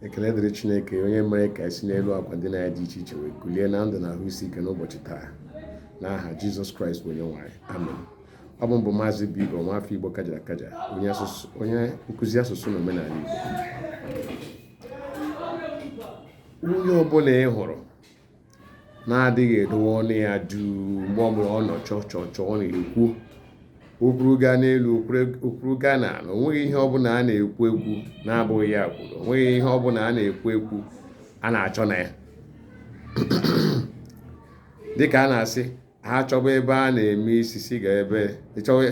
ekele dịrị chineke onye mere ka anyị si n'elu akwa ndina anyị dị iche iche wee kulie na ndụ na ahụ isi ike n'ụbọchị taa n'aha jizọs kraịst bụ onye nwe anyị amen ọ bụ m bụ maazị obigbo nwafọ igbo kajara akaja onye nkụzi asụsụ na omenala igbo onye ọbụla ị hụrụ na-adịghị edowe ọnụ ya duu mgbe ọbụla ọ nọ chọọ chọọ chọọ ọ na-ekwu o kwuru gaa n'elu o kwuru gaa n'ala o nweghị ihe ọbụla a na-ekwu ekwu na-abụghị ya kwuru o nweghị ihe ọbụla a na-ekwu ekwu a na-achọ ọnụ ya dịka a na-asị ha chọba ebe a na-eme isi si ga ebe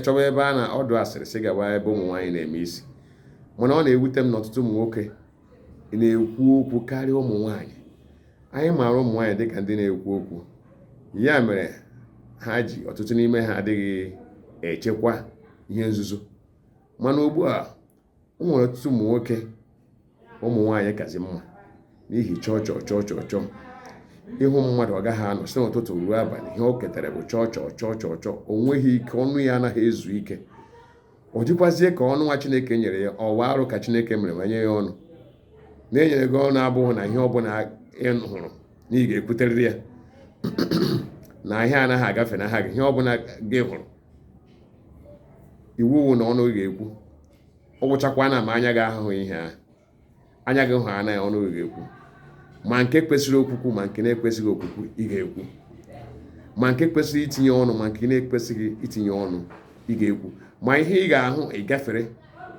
chọba ebe a na ọdụ asịrị sị gaba ebe ụmụ nwaanyị na-eme isi mana ọ na-ewute m na ọtụtụ ụmụ nwoke na-ekwu okwu karịa ụmụ nwaanyị anyị maara ụmụ nwaanyị dịka ndị na-ekwu okwu ya mere ha ji ọtụtụ n'ime ha adịghị echekwa ihe nzuzo mana ugbu a o nwere ọtụtụ ụmụ nwoke ụmụ nwaanyị kazi mma n'ihi chọọ chọọ chọọ chọọ chọọ ị hụ mmadụ ọ gaghị anọ si n'ụtụtụ ruo abalị ihe o ketara bụ chọọ chọọ chọọ chọọ chọọ o nweghị ike ọnụ ya anaghị ezu ike ọ dịkwazie ka ọnụ nwa chineke nyere ya ọ wụ arụ ka chineke mere ma nye ya ọnụ na e nyere gị ọnụ abụghị na ihe ọbụla ị hụrụ na ị ga-ekwuterịrị ya na ihe anaghị agafe n'anya gị ihe ọbụla gị hụrụ iwu wụ na ọnụ gị ga-ekwu ọ gwụchakwana ma anya gị ahụhụ ihe ahụ anya gị hụ ya na ọnụ gị ga-ekwu ma nke kwesịrị okwukwu ma nke na-ekwesịghị okwukwu ị ga-ekwu ma nke kwesịrị itinye ọnụ ma nke na-ekwesịghị itinye ọnụ ị ga-ekwu ma ihe ị ga-ahụ ị gafere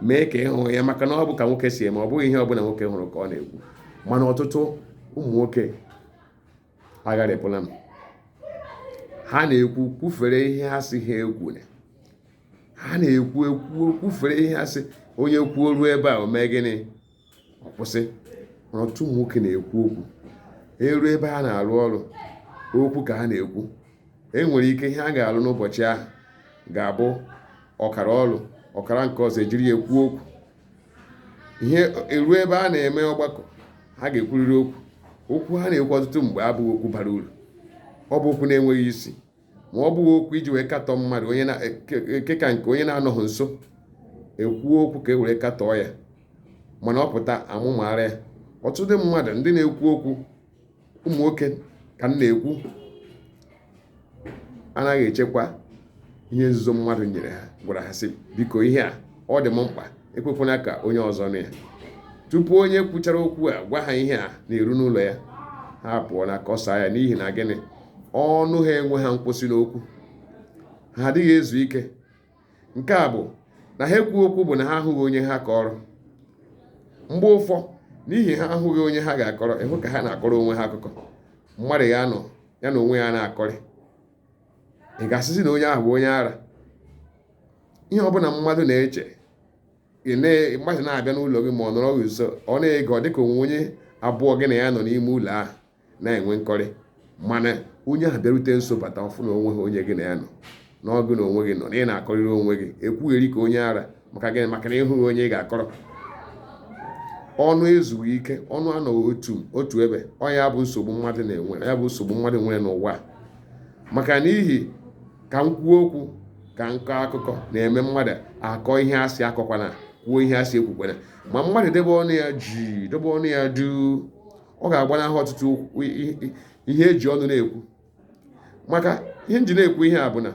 mee ka ị hụghị ya maka na ọ bụ ka nwoke si eme ọ bụghị ihe ọbụla nwoke hụrụ ka ọ na-ekwu mana ọtụtụ ụmụ nwoke agharịpụla m ha na-ekwu kwufere ihe ha sị ha ekwuna ha na-ekwu kwufere ihe ha sị onye kwuo ruo ebe a o mee gịnị ọ kwụsị ọtụtụ ụmụ nwoke na-ekwu okwu e ruo ebe ha na-arụ ọrụ okwu ka ha na-ekwu e nwere ike ihe a ga-alụ n'ụbọchị ahụ ga-abụ ọkara ọrụ ọkara nke ọzọ e jiri ya ekwu okwu ihe e ruo ebe a na-eme ọgbakọ ha ga-ekwurịrị okwu okwu ha na-ekwu ọtụtụ mgbe abụghị okwu bara uru ọ bụ okwu na-enweghị isi ma ọ bụghị okwu e ji wee katọọ mmadụ onye na- nke- nke ka nke onye na-anọghị nso e kwuo okwu ka e were katọọ ya mana ọ pụta a mụmara ya ọtụtụ mmadụ ndị na-ekwu okwu ụmụ nwoke ka m na-ekwu anaghị echekwa ihe nzuzo mmadụ nyere ha gwara ha sị biko ihe a ọ dị m mkpa ekwekwana ka onye ọzọ nụ ya tupu onye kwuchara okwu a gwa ha ihe a na-eru n'ụlọ ya ha pụọ na-akọsa ya n'ihi na gịnị ọnụ ha enweghị nkwụsị n'okwu ha adịghị ezu ike nke a bụ na ha ekwu okwu bụ na ha ahụghị onye ha kọrọ mgbe ụfọ n'ihi ha ahụghị onye ha ga-akọrọ ị hụ ka ha na-akọrọ onwe ha akụkọ mmadụ ya nọ ya na onwe ya na-akọrị ị ga-asịzi na onye ahụ bụ onye ara ihe ọbụla mmadụ na-eche mmadụ na-abịa n'ụlọ gị ma ọ nọrọ gị nso ọ na-ege ọ dịka o nwe onye abụọ gị na ya nọ n'ime ụlọ ahụ na-enwe nkọrị mana onye ahụ bịarute nso bata ọ fụ na o nweghị onye gị na ya nọ na ọ gị na onwe gị nọ na ị na-akọrịrị onwe gị ekwugheri ka onye ara maka gịnị maka na ị hụghị onye ị ga-akọrọ ọnụ ezughị ike ọnụ anọghị otu otu ebe ọ ya bụ nsogbu mmadụ na-enwe ya bụ nsogbu mmadụ nwere n'ụwa maka n'ihi ka m kwuo okwu ka m kọọ akụkọ na-eme mmadụ akọọ ihe a sị akọkwana kwuo ihe a sị ekwukwana ma mmadụ debe ọnụ ya ji debe ọnụ ya duu ọ ga-agbanahụ ọtụtụ ihe e ji ọnụ na-ekwu maka ihe m ji na-ekwu ihe a bụ na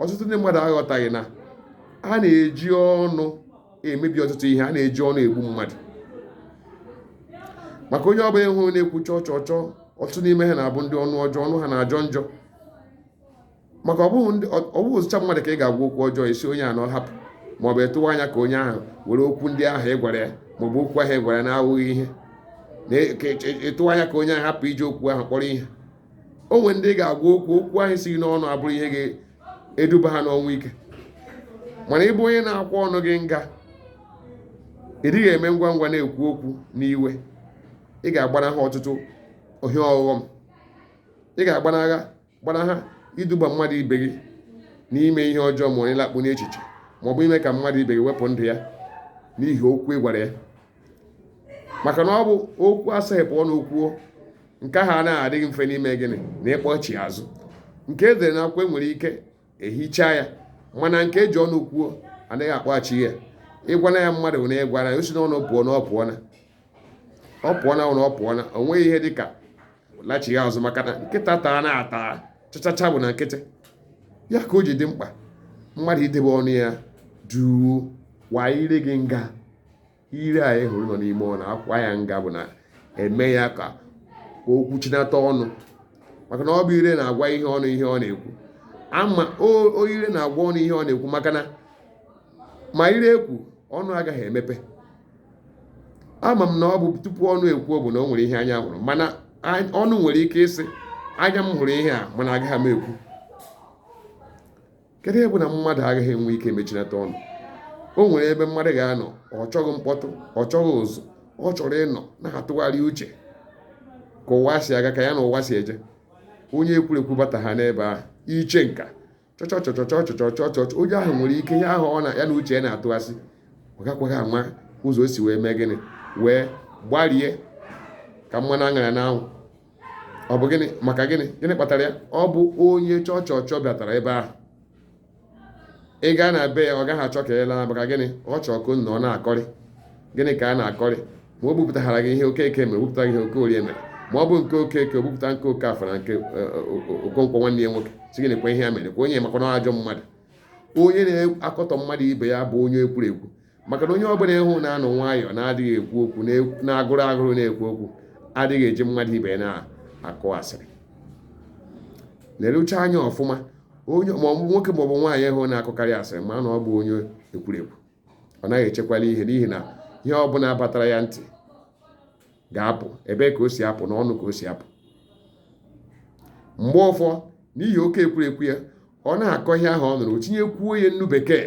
ọtụtụ ndị mmadụ aghọtaghị na a na-eji ọnụ emebi ọtụtụ ihe a na-eji ọnụ egbu mmadụ maka onye ọbụla ị hụrụ na-ekwu chọ chọ chọ ọtụtụ n'ime ha na-abụ ndị ọnụ ọjọọ ọnụ ha na-ajọ njọ maka ọ bụghịzịcha mmadụ ka ị ga-agwa okwu ọjọọ ị sị onye a na ọ hapụ maọbụ ị tụwa anya ka onye ahụ were okwu ndị ahụ ị gwara ya maọbụ okwu ahụ ị gwara ya na-awụghị ihe na-etụwa anya ka onye ahụ hapụ iji okwu ahụ kpọrọ ihe o nwere ndị ị ga-agwa okwu okwu ahụ si n'ọnụ abụrụ ihe ga-eduba ha n'ọnwụ ike mana ị bụ onye na-akwa ọnụ gị nga ị dịghị eme ngwa ngwa na-ekwu okwu n'iwe ị ga-agbanahụ ọtụtụ ihe ọghọm ị ga-agbanaha gbanaha iduba mmadụ ibe gị n'ime ihe ọjọọ ma onye lakpu n'echiche ma ọ bụ ime ka mmadụ ibe gị wepụ ndụ ya n'ihi okwu ị gwara ya maka na ọ bụ okwu asaghepụ ọnụ kwuo nke ahụ anaghị adị mfe n'ime gịnị na ịkpọchi azụ nke e dere n'akwụkwọ e nwere ike ehicha ya mana nke e ji ọnụ kwuo a naghị akpọghachi ya ị gwana ya mmadụ na ị gwara ya o si n'ọnụ pụọ na ọ pụọna ọ pụọ n'ọnụ ọ pụọna o nweghị ihe dịka lachigha azụ maka na nkịta taana ata chachacha bụ na nkịtị ya ka o ji dị mkpa mmadụ idebe ọnụ ya duu kwaa ire gị nga ire a ị hụrụ nọ n'ime ọnụ a kwaa ya nga bụ na e mee ya ka ka o kwuchinata ọnụ maka na ọ bụ ire na-agwa ihe ọnụ ihe ọ na-ekwu ama o- o ire na-agwa ọnụ ihe ọ na-ekwu maka na ma ire ekwu ọnụ agaghị emepe ama m na ọ bụ tupu ọnụ ekwuo bụ na o nwere ihe anya hụrụ mana ọnụ nwere ike ịsị anya m hụrụ ihe a mana agaghị m ekwu kedu ebe na mmadụ agaghị enwe ike mechinata ọnụ o nwere ebe mmadụ ga-anọ ọ chọghị mkpọtụ ọ chọghị ụzụ ọ chọrọ ịnọ na-atụgharị uche ka ụwa si aga ka ya na ụwa si eje onye ekwurekwu bataha n'ebe ahụ iche nka chọchọchọchọchọchọchọchọ onye ahụ nwere ike ihe ahụ ya na uche ya na-atụgharị ọ gakwaghị ama ụzọ o si wee mee gịnị wee gbarie ka mmanụ a ṅara n'anwụ ọ bụ gịnị maka gịnị gịnị kpatara ya ọ bụ onye chọchọchọ bịatara ebe ahụ ị gaa na be ya ọ gaghị achọ ka ị laa maka gịnị ọ chọọ ka nna ọ na-akọrị gịnị ka a na-akọrị ma o bupụtara gị ihe okeke mere o bupụta gị ihe okorie mere ma ọ bụ nke okeke o bupụta nke okafọ na nke okonkwo nwanne ya nwoke sị gị nekwa ihe ya mere kwa onye makwa na ajọ mmadụ onye na-akọtọ mmadụ ibe ya bụ onye ekwurekwu maka na onye ọbụla ị hụ na-anọ nwayọọ na-adịghị ekwu okwu na-agụrụ agụrụ na-ekwu okwu adịghị eji mmadụ ibe na-akụ asịrị lerucha anya ọfụma onye maọbụ nwoke maọbụ nwaanyị ị hụ na-akụkarị asịrị ma na ọ bụ onye ekwurekwu ọ naghị echekwala ihe n'ihi na ihe ọ bụla batara ya ntị ga-apụ ebe ka o si apụ na ọnụ ka o si apụ mgbe ụfọ n'ihi oke ekwurekwu ya ọ na-akọ ihe ahụ ọ nụrụ o tinyekwuo ya nnu bekee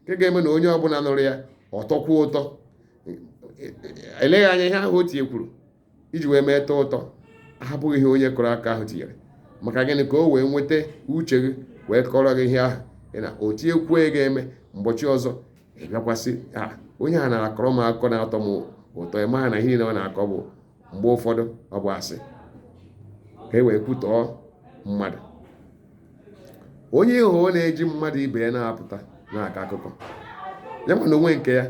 nke ga-eme na onye ọbụla nụrụ ya ọ tọkwuo ụtọ eleghị anya ihe ahụ o tinyekwuru iji wee mee tọọ ụtọ abụghị ihe onye kọrọ akọ ahụ tinyere maka gịnị ka o wee nweta uche gị wee kọrọ gị ihe ahụ na o tinyekwuo ya ga-eme mgbọchị ọzọ ị bịakwa sị onye a na-akọrọ m akụkọ na-atọ m ụtọ ị maghị na ihe niile ọ na-akọ bụ mgbe ụfọdụ ọ bụ asị ka e wee kwutọọ mmadụ onye ị hụ na-eji mmadụ ibe ya na-apụta na-akọ akụkọ ya mana o nwe nke ya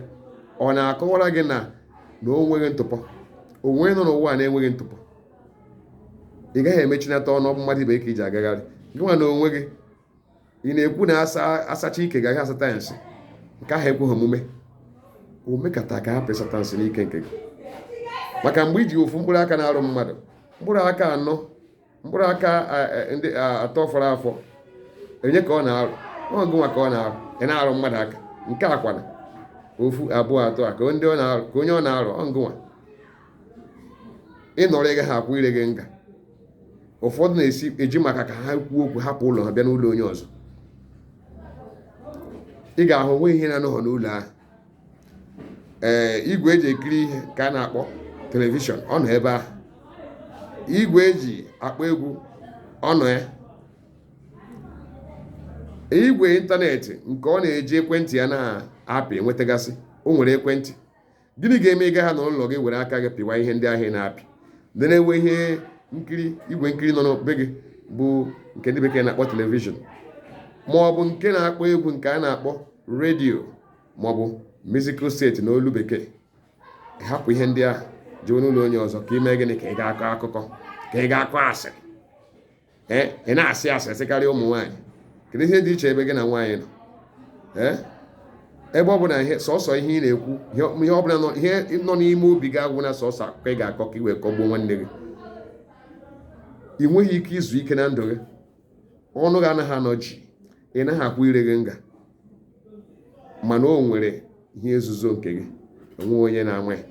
ọ na-akọwara gị na na o nweghị ntụpọ onye nọ n'ụwa na-enweghị ntụpọ ị gaghị emechinata ọnụ ọ bụ mmadụ ibe ka i ji agagharị gị nwa na onwe gị ị na-ekwu na asacha ike gaghị asata ya nsị nke ahụ ekweghị omume o mekata ka hapụ ịsata nsị n'ike nke gị maka mgbe i ji ofu mkpụrụ aka na-arụ mmadụ mkpụrụ aka anọ mkpụrụ aka ndị atọ fọrọ afọ onye ka ọ na-arụ ọ gị nwa ka ọ na-arụ ị na-arụ mmadụ aka nke a kwa na ofu abụọ atọ a ka onye ọ na-arụ ọ ngụnwa ị nọrọ ị gaghị akwa ire gị nga ụfọdụ na-esi eji maka ka ha kwuo okwu hapụ ụlọ ha bịa n'ụlọ onye ọzọ ị ga-ahụ o nwe ihe na-anọghọ n'ụlọ ahụ ee igwe eji ekiri ihe nke a na-akpọ telivishọn ọ nọ ebe ahụ igwe eji akpọ egwu ọ nọ ya igwe ịntanetị nke ọ na-eji ekwentị ya na-apị enwetagasị o nwere ekwentị gịnị ga-eme ị gaghị anọ n'ụlọ gị were aka gị pịwa ihe ndị ahụ ị na-apị ndị na-enwe ihe nkiri igwe nkiri nọ na be gị bụ nke ndị bekee na-akpọ telivishọn ma ọ bụ nke na-akpọ egwu nke a na-akpọ redio maọbụ musical set na olu bekee hapụ ihe ndị ahụ jee n'ụlọ onye ọzọ ka i mee gịnị ka ị ga-akọ akụkọ ka ị ga-akọ asịrị ee ị na-asị asịrị sịkarịa ụmụ nwaanyị kedu ihe dị iche ebe gị na nwaanyị nọ ee ebe ọ bụla ihe sọsọ ihe ị na-ekwu ihe ọ bụla ihe nọ n'ime obi gị agwụ na sọsọ akụkọ ị ga-akọ ka ị wee kọgbuo nwanne gị ị nweghị ike izu ike na ndụ gị ọnụ gị anaghị anọ jii ị naghị akwa ire gị nga mana o nwere ihe nzuzo nke gị o nweghị onye na-ama ya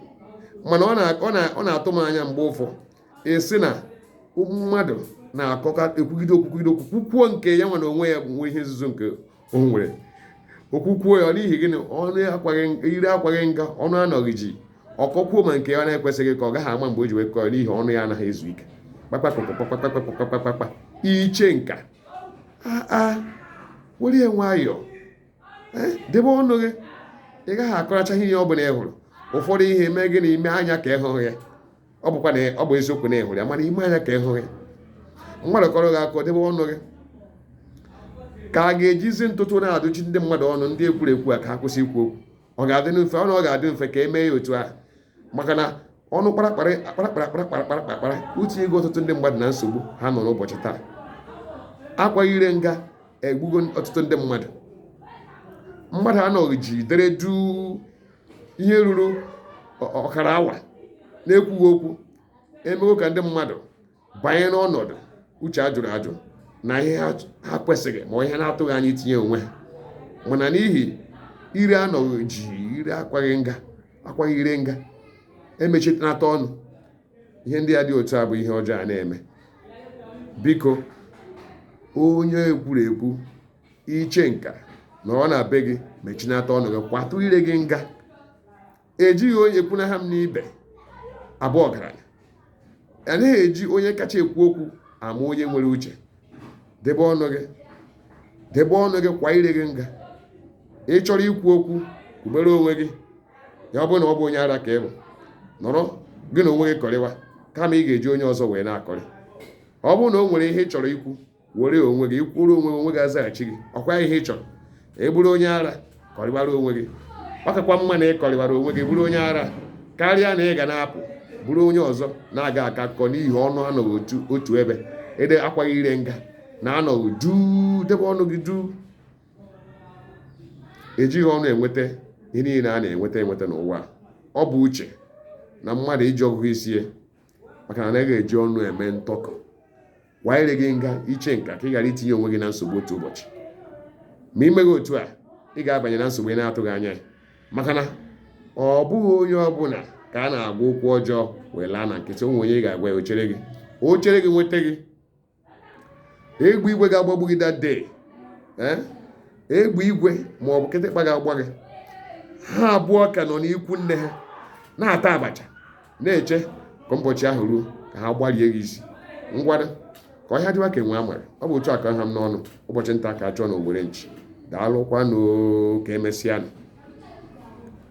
mana ọ na- ọ na- ọ na-atụ m anya mgbe ụfọdụ a sị na mmadụ na-akọka ekwugide o kwugide okwu kwukwuo nke ya nwa na onwe ya nwere ihe nzuzo nke o nwere o kwukwuo ya n'ihi gịnị ọnụ akwaghị ire akwaghị nga ọnụ anọghị jii ọ kọkwuo ma nke ya na-ekwesịghị ka ọ gaghị ama mgbe o ji wee kọọ n'ihi ọnụ ya anaghị ezu ike kpakpakpa iche nka aa were ya nwayọọ debe ọnụ gị ị gaghị akọracha ihe ọ bụla ị hụrụ ụfọdụ ihe mee gịnị i mee anya ka ị hụghị ya ọ bụkwa na ọ bụ eziokwu na ị hụrụ ya mana i mee anya ka ị hụghị mmadụ kọrọ gị akọ debe ọnụ gị ka a ga-ejizi ntụtụ na-adụchi ndị mmadụ ọnụ ndị ekwurekwu a ka ha kwụsị ikwu okwu ọ ga-adị mfe ọnụ ọ ga-adị mfe ka e mee ya otu ahụ maka na ọnụ kparakpara kparakpara kparakpara kparakpara etinyego ọtụtụ ndị mmadụ na nsogbu ha nọ n'ụbọchị taa akwaghị ire nga egbugo ọtụtụ ndị mmadụ mmadụ anọghị jii dere duu ihe ruru ọkara awa na-ekwughị okwu emego ka ndị mmadụ banye n'ọnọdụ uche ajụrụ ajụ na ihe ha kwesịghị ma ihe na-atụghị anya itinye onwe ha mana n'ihi ire anọghị jii ire akwaghị nga akwaghị ire nga emechinata ọnụ ihe ndị a dị otu a bụ ihe ọjọọ a na-eme biko onye ekwurekwu iche nka nọrọ na be gị mechinata ọnụ gị kwatụ ire gị nga ejighị onye kwunaha m n'ibe abụ ọgaranya anaghị eji onye kacha ekwu okwu ama onye nwere uche debe ọnụ gị debe ọnụ gị kwa ire gị nga ị chọrọ ikwu okwu kwubere onwe gị ya ọ bụrụ na ọ bụ onye ara ka ị bụ nọrọ gị na onwe gị kọrịwa kama ị ga-eji onye ọzọ wee na-akọrị ọ bụrụ na o nwere ihe ị chọrọ ikwu were onwe gị ikwuru onwe onwe gị azaghachi gị ọ kwa ihe ị chọrọ ị bụrụ onye ara kọrịbara onwe gị ọ kakwa mma na ị kọrịbara onwe gị bụrụ onye ara karịa na ị ga na-apụ buru onye ọzọ na-aga akọ akụkọ n'ihi ọnụ anọghị otu otu ebe ire akwaghị ire nga na anọghị duu debe ọnụ gị duu ejighị ọnụ enweta ihe niile a na-enweta enweta n'ụwa a. ọ bụ uche na mmadụ iji ọgụgụ isi ya maka na anaghị eji ọnụ eme ntọkọ kwa ire gị nga iche nka ka ị ghara itinye onwe gị na nsogbu otu ụbọchị ma i meghị otu a ị ga-abanye na nsogbu ị na-atụghị anya ya maka na ọ bụghị onye ọbụla ka a na-agwa okwu ọjọọ wee laa na nkịtị o nwee onye ị ga-agwa ya o chere gị o chere gị nweta gị egbe igwe ga-agbagbu gị that day eh? egbe igwe ma ọ bụ kịtịkpa ga-agba gị ha abụọ ka nọ n'ikwu nne ha na-ata abacha na-eche ka ụbọchị ahụ ruo ka ha gbarie gị isi ngwanụ ka ọhịa dịwa ka enwe amara ọ bụ otu a ka ọ ha m n'ọnụ ụbọchị nta ka a chụọ n'owere nchi daalụkwanụ ka emesịa